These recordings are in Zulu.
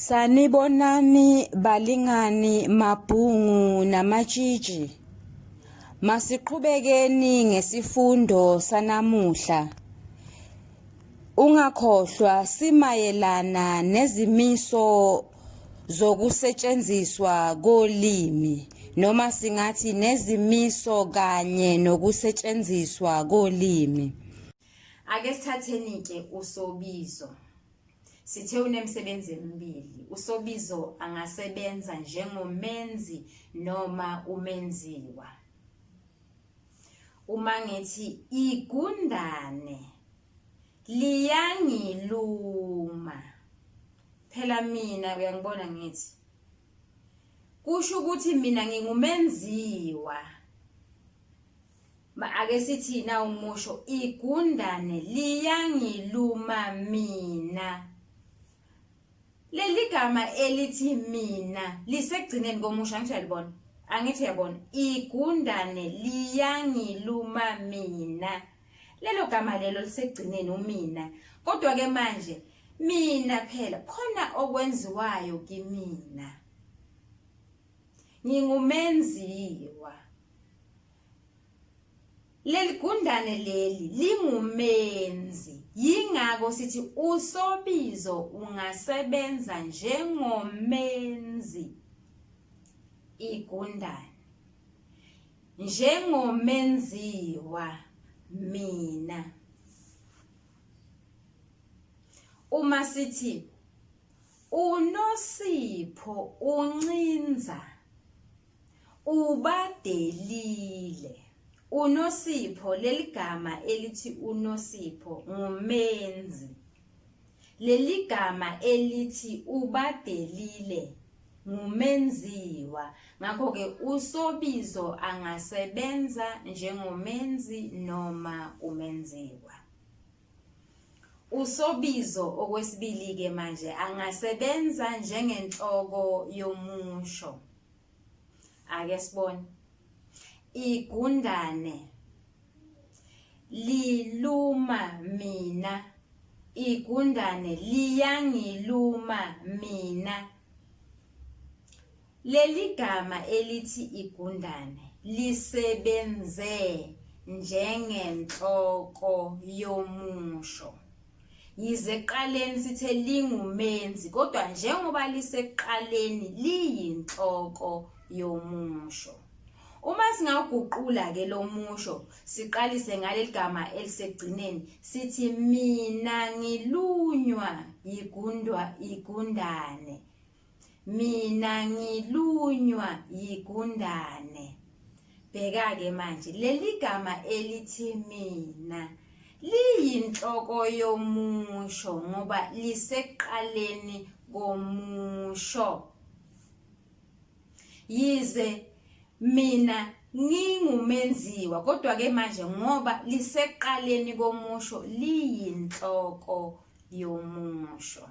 Sanibonani balingani mabhungu namatshitshi. Masiqhubekeni ngesifundo sanamuhla. Ungakhohlwa simayelana nezimiso zokusetshenziswa kolimi noma singathi nezimiso kanye nokusetshenziswa kolimi. Ake sithatheni ke usobizo. Sithe unemisebenzi emibili, uSobizo angasebenza njengomenzi noma umenziwa. Uma ngithi igundane liyangiluma phela mina uyangibona ngithi kusho ukuthi mina ngingumenziwa ake sithi na umusho igundane liyangiluma mina leli gama elithi mina lisegcineni komusho angisho yalibona angithi uyabona igundane liyangiluma mina lelo gama lelo lisegcineni umina kodwa ke manje mina phela khona okwenziwayo kimina ngingumenziwa leligundane leli lingumenzi yingakho sithi usobizo ungasebenza njengomenzi igundane njengomenziwa mina uma sithi UNosipho uncinza ubadelile. UNosipho leli gama elithi uNosipho ngumenzi. Leli gama elithi ubadelile ngumenziwa ngakho ke usobizo angasebenza njengomenzi noma umenziwa Usobizo okwesibili-ke manje angasebenza njengenhloko yomusho. Ake sibone. Igundane liluma mina. Igundane liyangiluma mina. Leli gama elithi igundane lisebenze njengenhloko yomusho. Yize ekuqaleni sithe lingumenzi kodwa njengoba lisekuqaleni liyinhloko yomusho. Uma singaguqula ke lomusho siqalise ngaleli gama elisegcineni sithi mina ngilunywa yigundwa igundane mina ngilunywa yigundane bheka-ke manje leli gama elithi mina liyinhloko yomusho ngoba lisekuqaleni komusho yize mina ngingumenziwa kodwa ke manje ngoba liseqaleni komusho liyinhloko yomusho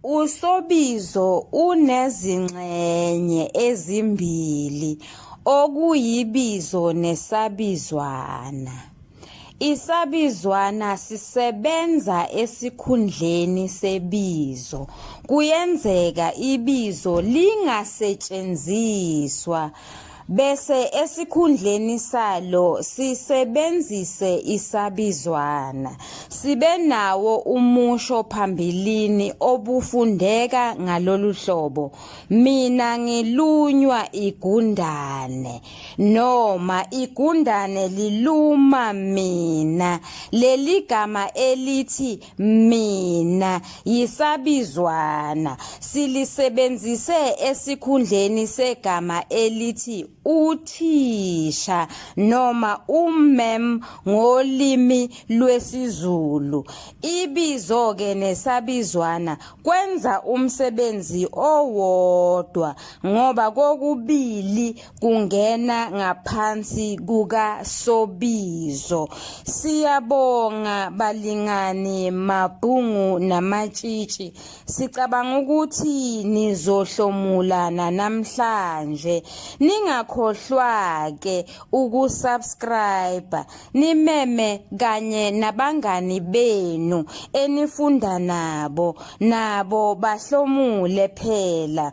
Usobizo unezingxenye ezimbili okuyibizo nesabizwana. Isabizwana sisebenza esikhundleni sebizo. Kuyenzeka ibizo lingasetshenziswa bese esikhundleni salo sisebenzise isabizwana sibe nawo umusho phambilini obufundeka ngalolu hlobo mina ngilunywa igundane noma igundane liluma mina leli gama elithi mina yisabizwana silisebenzise esikhundleni segama elithi uthisha noma ummem ngolimi lwesiZulu ibizo ke nesabizwana kwenza umsebenzi owodwa ngoba kokubili kungena ngaphansi kukaSobizo. Siyabonga balingani mabhungu namatshitshi. Sicabanga ukuthi nizohlomulana namhlanje. Ningakhohlwa-ke ukusubscribe, nimeme kanye nabangani benu enifunda nabo, nabo bahlomule phela.